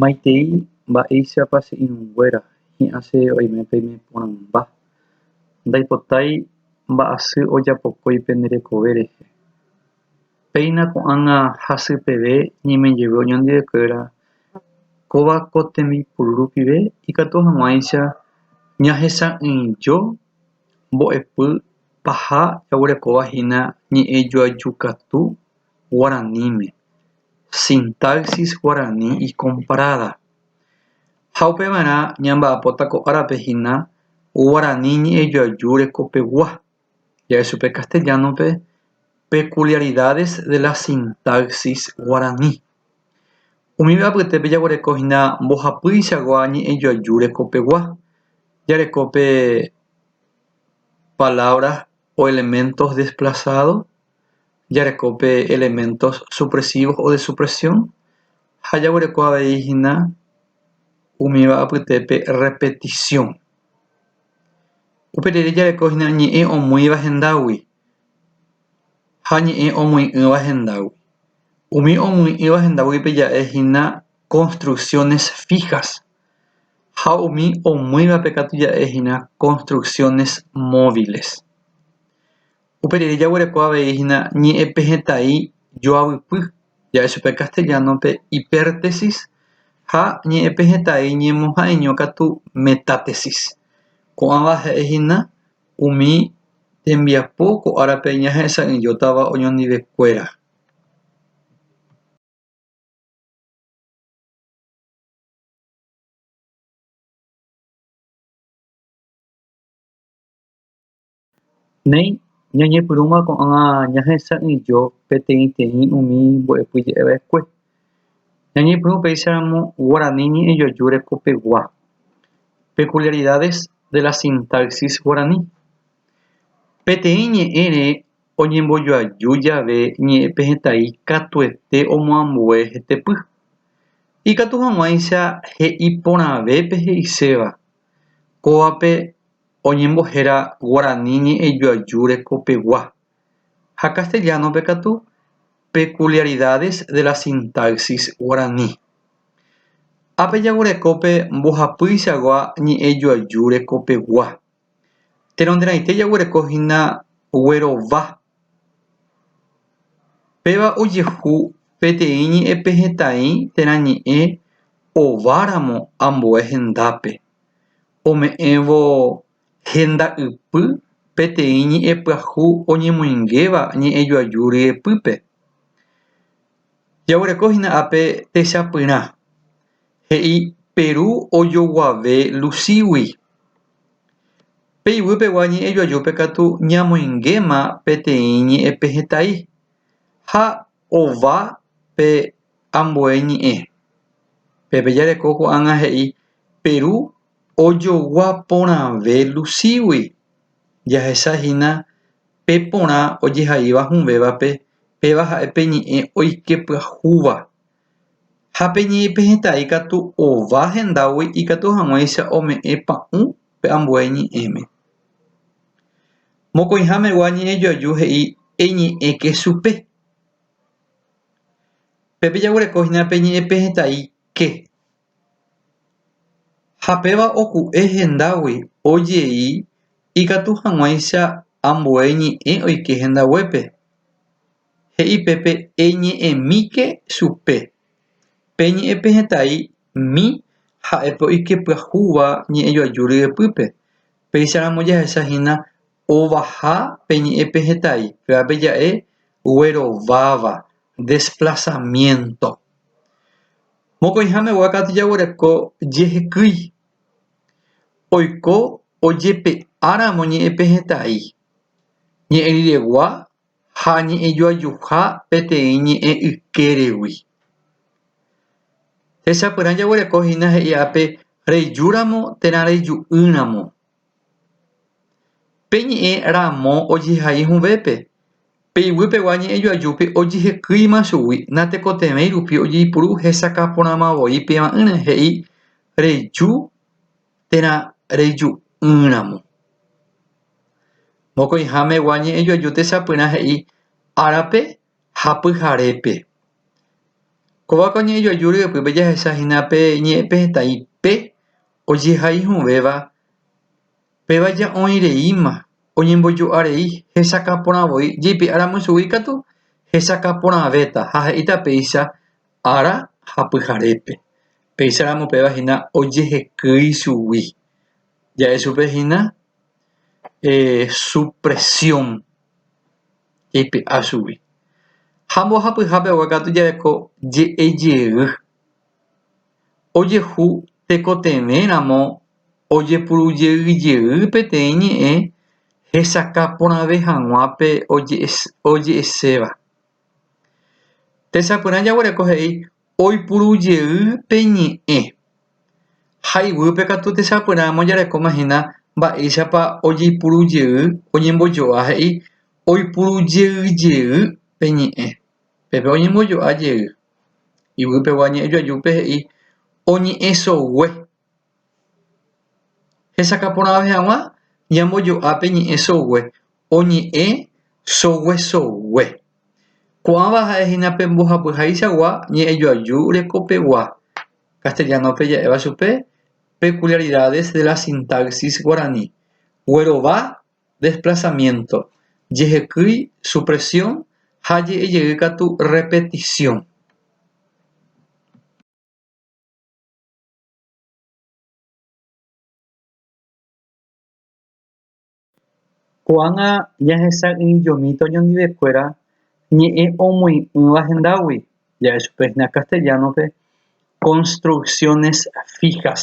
Maitei mba'éichapa che irũnguéra hi'ãse oime peime porãmba. Ndaipotái mba'asy ojapokói pende rekove rehe. Péina ko'ág̃a hasy peve ñaime jeve oñondive'ekuéra kóva ko tembipuru rupive ikatu hag̃uáicha ñahesa'ỹijo mbo'epy paha jaguerekóva hína ñe'ẽjoajukatu. guaraníme, sintaxis guarani ikomparáda. Ha upeva'erã ñamba'apóta ko árape hína guarani ñe'ẽjoaju rekopegua, ja'e chupe castellano-pe peculiaridades de la sintaxis guarani. Umíva apytépe jaguereko hína mbohapýichagua ñe'ẽjoaju rekopegua, jareko pe palabra o elementos desplazados jareko pe elementos supresivos o de supresión ha jaguereko avei hína umíva apytépe repetición. Upe rire jareko hína ñe'ẽ omoĩva hendágui ha ñe'ẽ omoĩ'ỹva hendágui. Umi omoĩ'ỹva hendáguipe ja'e hína construcciones fijas. ha umi omýivape katu ja'e hína construcciones móviles. Upe rire jaguereko avei hína ñe'ẽpe hetãi joavypy, ja'e chupe castellano-pe hipértesis ha ñe'ẽpe hetãi ñemoha'ãiño katu metátesis. Ko'ãva ja'e hína umi tembiapo ko árape ñahesa'ỹijótava oñondivekuéra. Néi, ñañepyrũma ko'ág̃a ñahesa'ỹijo peteĩteĩ umi mbo'epyje'eva'ekue. Ñañepyrũ upéicharamo guarani ñe'ẽjoaju rekopegua, peculiaridades de la sintaxis guaraní. Peteĩ ñe'ẽre oñembojoaju jave ñe'ẽpe hetái katuete omoambue hetepy. Ikatu hag̃uáicha he'i porãvépe he'iséva, kóvape oñembohéra guarani ñe'ẽjoaju rekopegua, ha castellano-pe katu, peculiaridades de la sintaxis guaraní. Ápe jaguereko pe mbohapýichagua ñe'ẽjoaju rekopegua. Tenonderãite jaguereko hína guerova. Péva ojehu peteĩ ñe'ẽpe hetãi térã ñe'ẽ ováramo ambue hendápe. Ome'ẽvo henda ypy peteĩ ñe'ẽpyahu oñemoingéva ñe'ẽjoaju ryepýpe. Jaguereko hína ápe techapyrã, he'i Peru ojoguave Lucígui. Pe ivýpegua ñe'ẽjoajúpe katu ñamoingéma peteĩ ñe'ẽpe hetái, ha ova pe ambue ñe'ẽ. Pépe jareko ko'ág̃a he'i Peru ojogua porãve Lucígui. jahecha hína pe porã ojehaíva hũvévape, péva ha'e pe ñe'ẽ oike pyahúva. Ha pe ñe'ẽ pe hetã ikatu ova hendágui ikatu hag̃uáicha ome'ẽ pa'ũ pe ambue ñe'ẽme. Mokõihamegua ñe'ẽjoaju he'i eñe'ẽke chupe. Pépe jaguereko hína pe ñe'ẽ pe hetãike. Ha péva oku'e hendágui o jey ikatu haguãicha ambue ñe'ẽ oike hendaguépe, he'i pe pe eñe'ẽmíke chupe, pe ñe'ẽ pe hetay mi ha'e pe oike pyahúva ñe'ẽ joaju ryepýpe, péicha ramo jahecha hína ovaha pe ñe'ẽ pe hetay, péva pe ja'e guerováva, desplazamiento. Mokõiháme guákatu jaguereko jehekýi, oiko ojepe'áramo ñe'ẽpe hetã'i, ñe'ẽriregua ha ñe'ẽjoajuha peteĩ ñe'ẽ ykéregui. Techapyrã jaguereko hína he'i ápe rejúramo térã reju'ỹramo. Pe ñe'ẽ ramo ojehai hũvépe, pe iguýpegua ñe'ẽjoajúpe ojehekýima chugui natekotevẽi rupi ojeipuru hesakã porãma voi pevaíre he'i reju térã reju'ỹramo. Mokõihamegua ñe'ẽjoaju techapyrã he'i árape ha pyharépe. Kóva ko ñe'ẽjoaju ryepýpe jahechahína pe ñe'ẽpe hetãi pe Ojehaihovéva péva ja'oĩreíma oñembojo'arei hesakã porã voi jeipe'a ramo chugui katu hesakã porãvéta ha he'íta péicha ára ha pyharépe. Péicha ramo péva hína ojehekýi chugui ja'e chupe hína supresiõ jeipe'a chugui. Ha mbohapyhápe katu jareko je'ejey ojehu tekotevẽ ramo ojepurujeyjey peteĩ ñe'ẽ hesakã porãve hag̃uápe oje'eséva tesapyrã jaguereko he'i oipurujey pe ñe'ẽ ha iguýpe katu tesapyrã ojerekóma hína mba'éichapa ojeipurujey oñembojo'a he'i oipurujeyjey pe ñe'ẽ pépe oñembojo'a jey Yvypegua ñe'ẽjoajúpe he'i oñe'ẽsogue. Hesakãporãve hag̃ua ñambojo'a pe ñe'ẽsogue, oñe'ẽ soguesogue. Ko'ãva ha'e hína pe mbohapyhaichagua ñe'ẽjoaju rekopegua, castellano-pe ja'éva chupe peculiaridades de la sintaxis guarani, guerova desplazamiento, jehekýi supresión ha je'ejey katu repetición. Ko'ág̃a jahesa'ỹijomi toñondivekuéra ñe'ẽ omoĩ'ỹva hendágui, ja'e chupe hína castellano-pe construcciones fijas.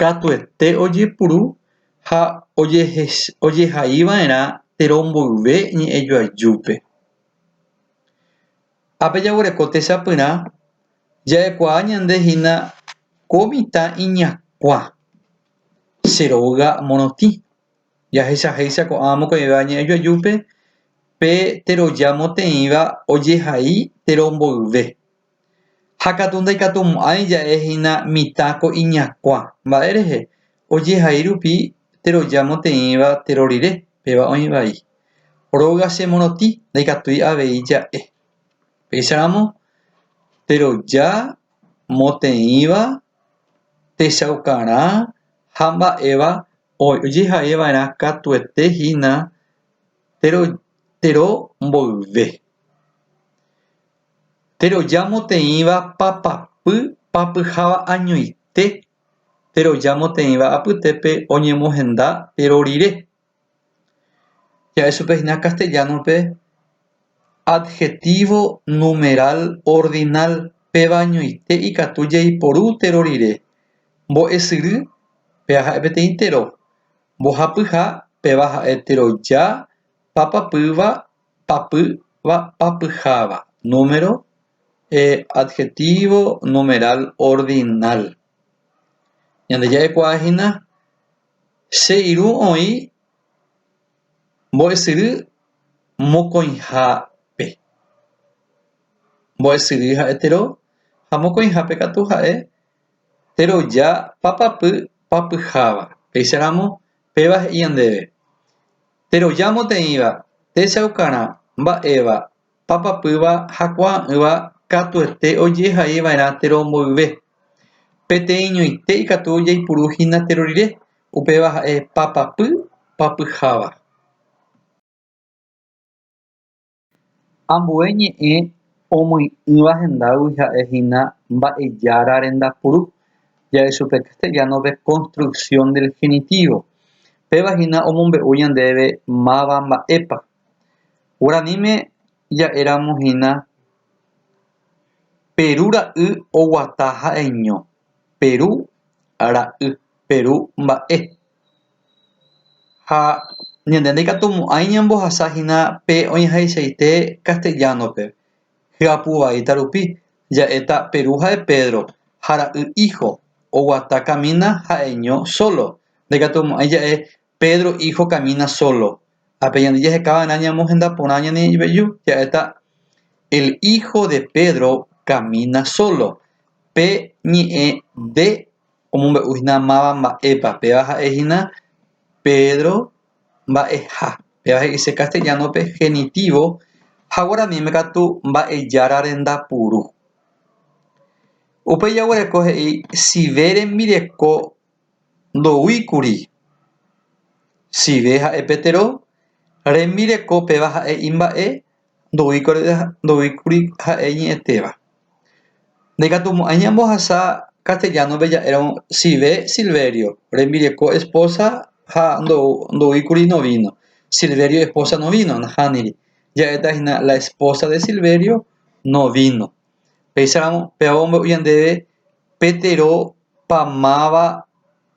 katuete ojepuru ha ojehaiva'erã térõ mboyve ñe'ẽjoajúpe. Ápe jaguereko techapyrã, ja'ekuaa ñande hína ko mitã iñakua, che róga morotĩ. Jahechahéicha ko'ã mokõivéva ñe'ẽjoajúpe pe teroja moteĩva ojehai térõ mboyve. Ha katu ndaikatumo'ãi ja'e hína mitã ko iñakua. Mba'e rehe? Ojehai rupi teroja moteĩva tero rire, péva oĩ vai. Róga che morotĩ, ndaikatúi avei ja'e. Péicharamo, teroja, moteĩva, techaukarã ha mba'éva ojehai va'erã katuete hína tero mboyve. Terojamoteĩva papapy papyháva añoite terojamoteĩva apytépe oñemohenda péro rire. Ja'e chupe hína castellano-pe adjetivo numeral ordinal péva añoite ikatu jaiporu téro rire. Mbo'esyry péva ha'e peteĩ téro. Mbohapyha péva ha'e teroja papapýva papýva papyháva número adjetivo numeral ordinal ñandeja'ekuaa hína che irũ oĩ mbo'esyry mokõihápe mbo'esyry ha'e tero ha mokõihápe katu ha'e teroja papapy papyháva péicharamo péva he'i ñandéve Terojamoteĩva, techaukarã, mba'éva, papapýva ha kuaa'ỹva katuete ojehaiva'erã tero mboyve. Peteĩñoite ikatu jaipuru hína tero rire, upéva ha'e papapy papyháva. Ambue ñe'ẽ omyi'ỹva hendágui ha'e hína Mba'ejára rendapuru, jave chupe castellano-pe construcción del genitivo. Péva hína omombe'u ñandéve máva mba'épa. Guaraníme ja'éramo hína Peru ra'y oguata ha'eño, Peru ra'y, Peru mba'e. ha ñande ndaikatumo'ãi ñambohasahína pe oĩháichaite castellano-pe hyapu vaíta rupi ja'éta Peru ha'e Pedro ha ra'y hijo oguata camina ha'eño solo ndaikatumo'ãi ja'e Pedro hijo camina solo ha pe ñande jaheka va'erã ñamohenda porã ñane iveju ja'éta el hijo de Pedro camina solo pe ñe'ẽ de omombe'uhína máva mba'épa. Péva ha'ehína Pedro mba'eha. Péva he'ise castellano-pe genitivo ha guaraníme katu mba'ejára renda puru. Upéi jaguereko he'i sive rembireko ndoúikuri. Sive ha'e pe tero rembireko péva ha'e imba'e ndoúikuri ha'e iñe'ẽtéva. Ndaikatumo'ãi ñambohasa castellano-pe ja'éramo Sive Silverio, rembireko esposa ha ndoúikuri novino, Silverio esposa novino, nahániri. Ja'éta hína la esposa de Silverio no vino. Péicharamo pévapa omombe'u ñandéve pe terópa máva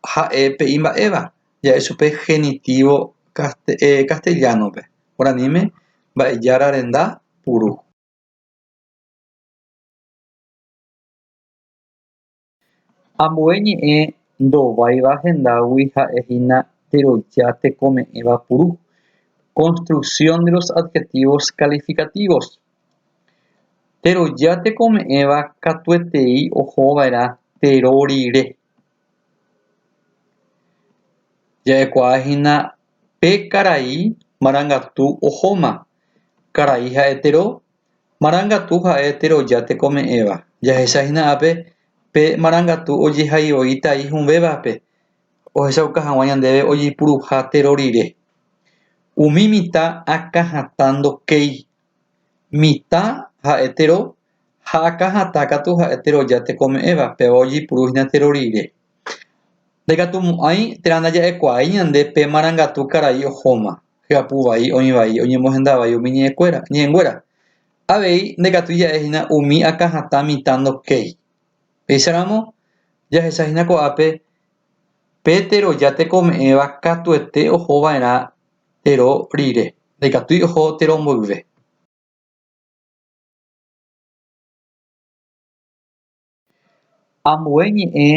ha'e pe imba'éva. ja'e chupe genitívo castellano-pe, guaraníme mba'ejára renda puru. Ambue ñe'ẽ ndováiva hendágui ha'e hína teroja tekome'ẽva puru, construcción de los adjetivos calificativos. Teroja tekome'ẽva katuetei ohova'erã tero rire. Ja'ekuaa hína pe karai marangatu ohóma. Karai ha'e tero, marangatu ha'e teroja tekome'ẽva. Jahecha hína ápe pe marangatu ojehai voi tai hũvévape ohechauka hag̃ua ñandéve ojepuruha tero rire. Umi mitã akã hatã ndokéi mitã ha'e tero ha akã hatã katu ha'e teroja tekome'ẽva, péva ojeipuru hína tero rire. Ndaikatumo'ãi térã ndaja'ekuaái ñande pe marangatu karai ohóma, hyapu vai, oĩ vai, oñemohenda vai umi ñe'ẽkuéra, ñe'ẽnguéra. Avei ndaikatúi ja'e hína umi akã hatã mitã ndokéi. Péicharamo, jahecha hína ko'ápe pe teroja tekome'ẽva katuete oho va'erã térõ rire, ndaikatúi oho térõ mboyve. Ambue ñe'ẽ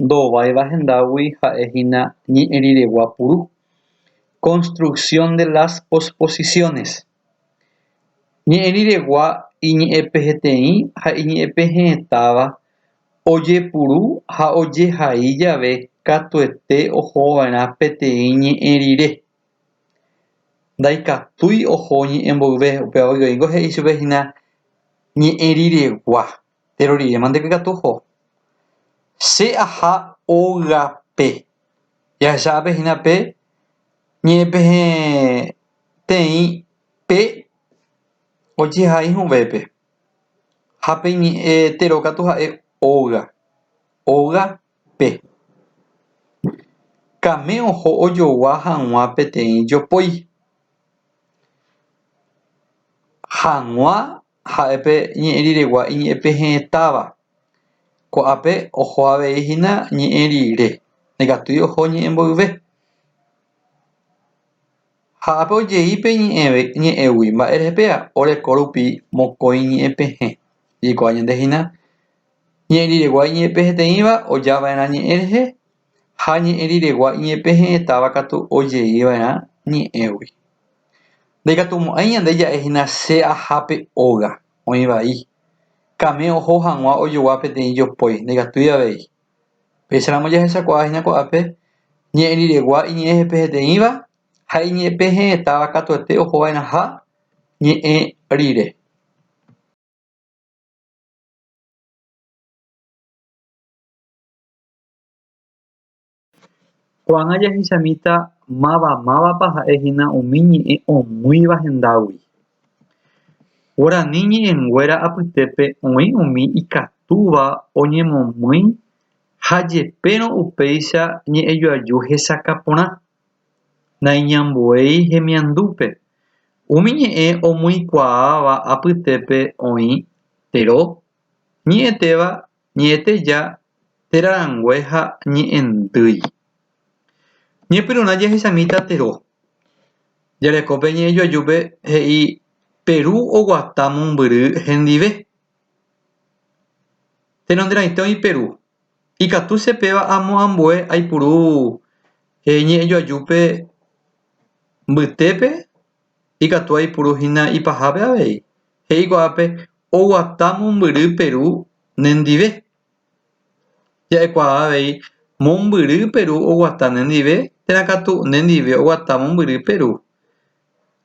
ndováiva hendágui ha'e hína ñe'ẽ riregua puru, construcción de las posposiciones. Ñe'ẽ riregua iñe'ẽpeheteĩ ha iñe'ẽpehe'ẽtáva Ojepuru ha ojehai jave katuete ohova'erã peteĩ ñe'ẽ rire, ndaikatúi oho ñe'ẽ mboyve, upéva oigoingo he'i chupe hína ñe'ẽ riregua, péro rire mante ko ikatu oho. Che aha ógape, jahecha'ápe hína pe ñe'ẽ peteĩ pe ojehai hu'vépe. Ha pe ñe'ẽ téro katu ha'e óga, óga pe. Kame oho ojogua haguã peteĩ jopói. Haguã ha'e pe ñe'ẽ riregua iñe'ẽ pe he'ẽtáva. Ko'ápe oho avei hína ñe'ẽ rire, ndaikatúi oho ñe'ẽ mboyve. Ha ápe ojei pe ñe'ẽve ñe'ẽgui mba'e rehe péva, oreko rupi mokõi ñe'ẽ pehẽ. Jaikuaa ñande hína, ñe'ẽ riregua iñe'ẽpeheteĩva oja va'erã ñe'ẽ rehe, ha ñe'ẽ riregua iñe'ẽpehe'ẽtáva katu ojei va'erã ñe'ẽgui. Ndaikatumo'ãi ñande ja'e hína che aha pe óga, oĩ vai. Kame oho hag̃ua ojogua peteĩ jopói, ndaikatúi avei. Péicharamo jahechakuaahína ko'ápe, ñe'ẽ riregua iñe'ẽ jepeheteĩva ha iñe'ẽpehe'ẽtáva katuete ohova'erãha ñe'ẽ rire. Ko'ág̃a jahechamíta máva mávapa ha'ehína umi ñe'ẽ omýiva hendágui. Guarani ñe'ẽnguéra apytépe oĩ umi ikatúva oñemomýi ha jepérõ upéicha ñe'ẽjoaju hesakã porã. Naiñambuéi hemiandúpe, umi ñe'ẽ omyikuaáva apytépe oĩ tero, ñe'ẽtéva Ñe'ẽteja, téra rangue ha ñe'ẽndýi. Ñepyrũrã jahechamíta Tero. Jareko pe ñe'ẽjoajúpe he'i Peru oguata mombyry hendive. Tenonderãite oĩ Peru. Ikatu che péva amo ambue aipuru he'i ñe'ẽjoajúpe mbytépe ikatu aipuru hína ipahápe avei, he'i ko'ápe oguata mombyry Peru nendive. Ja'ekuaa avei, mombyry Peru oguata nendive térã katu nendive oguata mombyry Peru.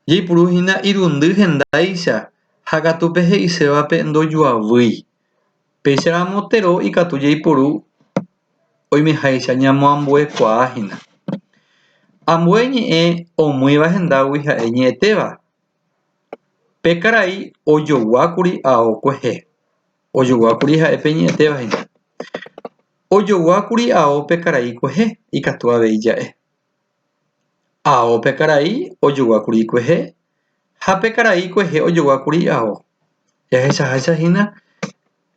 Jaipuru hína irundy hendáicha ha katu pe he'isévape ndojoavýi. Péicha ramo tero ikatu jaiporu oimeháicha ñamoambuekuaa hína. Ambue ñe'ẽ omýiva hendágui ha'e ñe'ẽtéva. Pe karai ojoguákuri ao kuehe, ojoguákuri ha'e pe ñe'ẽtéva hína. Ojoguákuri ao pe karai kuehe, ikatu avei ja'e. Ao pe karai ojoguákuri ikuehe ha pe karai ikuehe ojoguákuri ao. Jahechaháicha hína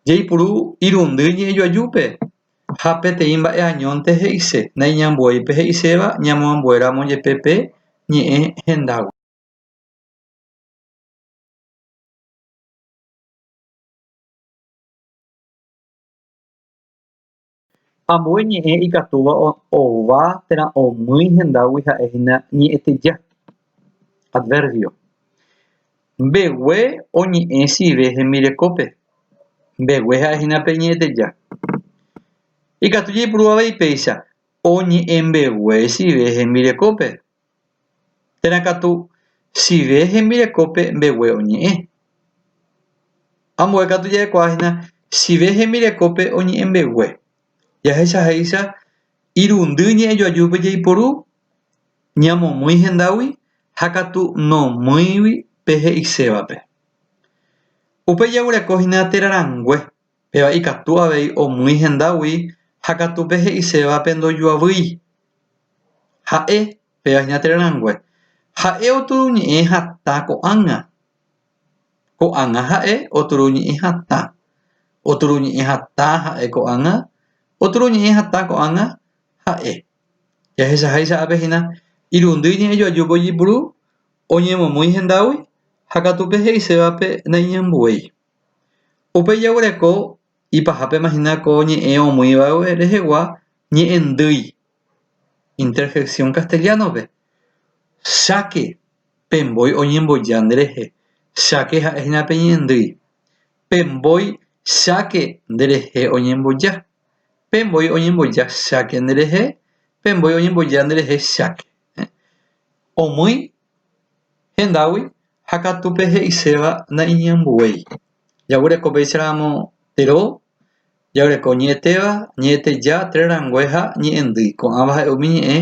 jaipuru irundy ñe'ẽjoajúpe ha peteĩ mba'e añónte he'ise naiñambuéi pe he'iséva ñamoambuéramo jepe pe ñe'ẽ hendágui. Ambue ñe'ẽ ikatúva ova térã omýi hendágui ha'e hína ñe'ẽteja, adverbio. Mbegue oñe'ẽ sive hembirekópe. Mbegue ha'e hína pe ñe'ẽteja. Ikatu jaipurúva avei péicha, oñe'ẽ mbegue sive hembirekópe. térã katu chive hembirekópe mbegue oñe'ẽ. Ambue katu ja'ekuaa hína chive hembirekópe oñe'ẽ mbegue, jahechahéicha irundy ñe'ẽjoajúpe jaiporu, ñamomýi hendágui ha katu nomýigui pe he'isévape. Upe jaguereko hína térã rangue Péva ikatu avei omýi hendágui ha katu pe he'isévape ndojuavýi. Ha'e, pévahina térã rangue, ha'e oturu ñe'ẽ hatã ko'ág̃a. Ko'ág̃a ha'e oturu ñe'ẽ hatã. Oturu ñe'ẽ hatã ha'e ko'ág̃a, oturu ñe'ẽ hatã ko'ág̃a ha'e. Jahechaháicha ápe hína irundy ñe'ẽ joajúpe ojepuru, oñemomýi hendágui ha katu pe he'isévape naiñambuéi. Upe jaguereko ipahápema hína ko ñe'ẽ omoĩvague rehegua ñe'ẽndýi, interjección castellano-pe, cháke pe mbói oñemboja nderehe, cháke ha'e hína pe ñe'ẽndýi, pe mbói cháke nderehe oñemboja, pe mbói oñemboja cháke nderehe, pe mbói oñemboja nderehe cháke. Omýi Hendágui ha katu pe he'iséva naiñambuéi. Jagureko péicha ramo ero, jagureko ñe'ẽtéva, ñe'ẽteja, tre rangue ha ñe'ẽndýi. Ko'ãva ha'e umi ñe'ẽ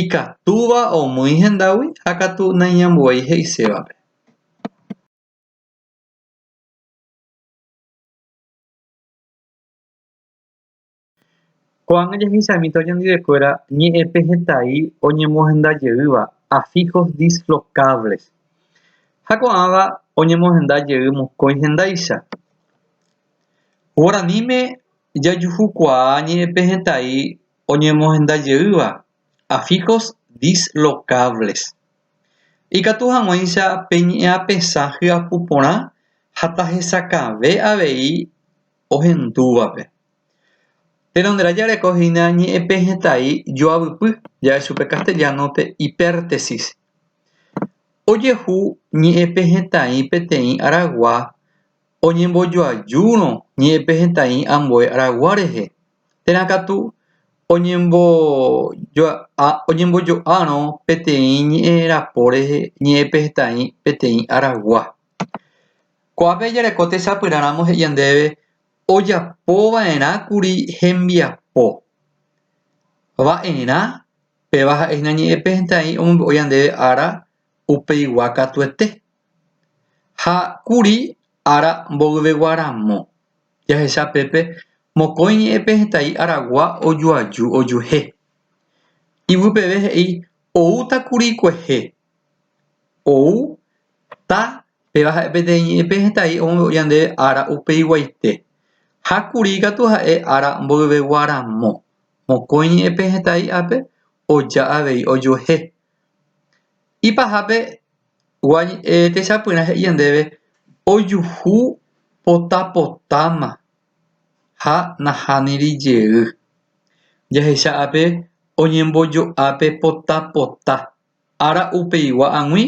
ikatúva omýi hendágui ha katu naiñambuéi he'isévape. Ko'ág̃a jahechamíta oñondive'ekuéra ñe'ẽpe hetái oñemohenda jeýva afijos dislocables, ha ko'ãva oñemohenda jey mokõi hendáicha. Guaraníme jajuhukuaa ñe'ẽpe hetái oñemohenda jeýva afijos dislocables. Ikatu hag̃uáicha pe ñe'ẽapesã hyapu porã ha tahesakãve avei ohendúvape. Tenonderã jareko hína ñe'ẽpe hetái joavypy, ja'e chupe castellano-pe hipértesis. Ojehu ñe'ẽpe hetãi peteĩ aragua oñembojoajúrõ ñe'ẽpe hetãi ambue aragua rehe, térã katu oñembojo'árõ peteĩ ñe'ẽ rapo rehe ñe'ẽpe hetãi peteĩ aragua. Ko'ápe jareko tesapyrã ramo he'i ñandéve ojapova'erãkuri hembiapo. Va'erã péva ha'e hína ñe'ẽpe hentea'i omombe'o ñandéve ára upeigua katuete. Ha kuri ára mboyvegua ramo, jahecha pépe mokõi ñe'ẽpe hetã'i aragua ojuaju ojuehe. Ivy peve he'i oútakuri kuehe. ou ta péva ha'e peteĩ ñe'ẽpe hetái omombe'u ñande ára upeiguaite ha kuri katu ha'e ára mboyvegua ramo mokõi ñe'ẽpe hetái ápe oja avei ojuehe ipahápe gua techapyrã he'i ñandéve ojuhu pota potáma ha nahániri jey jahecha ápe oñembojo'a pe pota pota Ára upeigua ag̃ui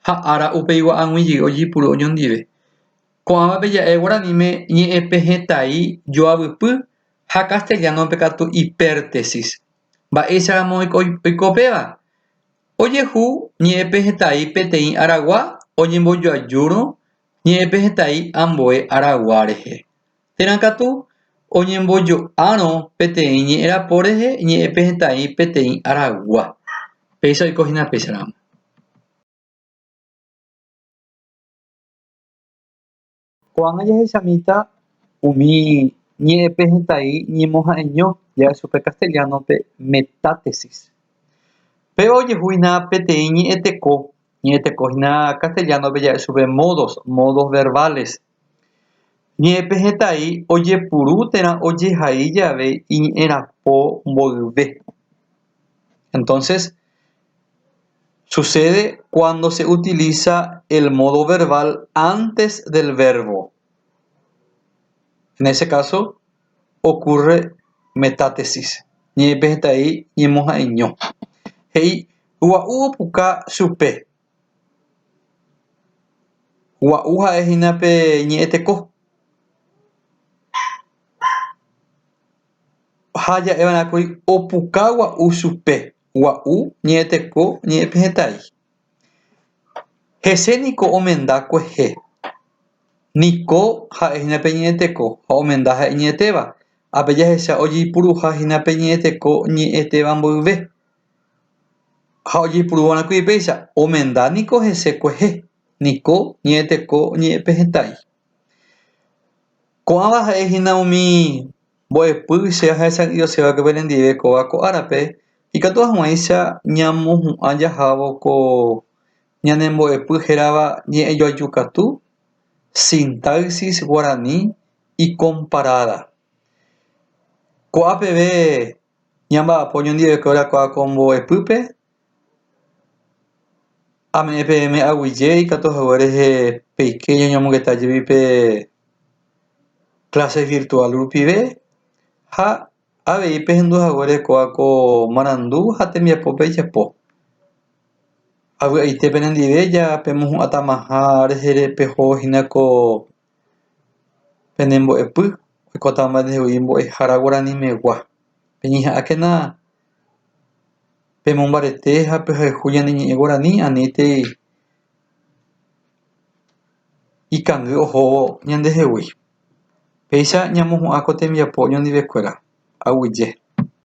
ha ára upeigua ag̃ui jey ojipuru oñondive. Ko'ãvape ja'e guaraníme ñe'ẽpe hetái joavypy ha castellano-pe katu ipértesis. Mba'éicharamo oiko péva? Ojehu ñe'ẽpe hetái peteĩ aragua oñembojoajúrõ ñe'ẽpe hetái ambue aragua rehe. Térã katu oñembojo'árõ peteĩ ñe'ẽrapo rehe ñe'ẽpe hetãi peteĩ aragua. Péicha oiko hína péicha ramo. Ko'ág̃a jahechamíta umi ñe'ẽpe hetãi ñemoha'eño jave chupe castellano-pe metátesis. Péva ojehu hína peteĩ ñe'ẽteko, ñe'ẽteko hína castellano-pe ja'e chupe modos, modos verbales. Ñe'ẽpe hetãi ojepuru térã ojehai jave iñerapo mboyve. Entonces, sucede cuando se utiliza el modo verbal antes del verbo. En ese caso, ocurre metátesis. Ñe'ẽpe hetãi ñemoha'eño. He'i, Gua'u opuka chupe. Gua'u ha'e hína pe ñe'ẽ teko. Ha ja'éva'erã kuri opuka gua'u chupe. Gua'u ñe'ẽ teko ñe'ẽ pe hetãi. Hese niko omenda kuehe. Niko ha'e hína pe ñe'ẽ teko ha omenda ha'e ñe'ẽtéva. Ha pe jahecha ojeipuruha hína pe ñe'ẽ teko ñe'ẽtéva mboyve. Ha ojeipurúva rakui upéicha, omenda niko hese kuehe niko ñe'ẽteko oñe'ẽpe hetãi. Ko'ãva ha'e hína umi mbo'epy che ahechasa'ỹijoséva upépe rendive kóva ko árape, ikatu hag̃uáicha ñamohu'ã jahávo ko ñane mbo'epy hérava Ñe'ẽjoaju katu, Sintaxis Guarani y Comparada. Ko'ã peve Ñamba'apo oñondivepe orakuaa ko mbo'epýpe, ame'ẽ peẽme aguyje ikatu hague rehe peike ñañomongeta jey pe clase virtual rupive ha avei pehendu hague rekuaa ko marandu ha tembiapo pejapo. Avy'aite penendive ja pemohu'ãtamaha rehe peho hína ko Penembo'epy oikóta omba'eguasu mbo'ehára guaranimegua. Peñeha'ãkena pemombarete ha pehayhu ñane ñe'ẽ guarani aníntei ikangy ohóvo ñandehegui. Péicha ñamohu'ã ko tembiapo oñondive kuéra, aguyje.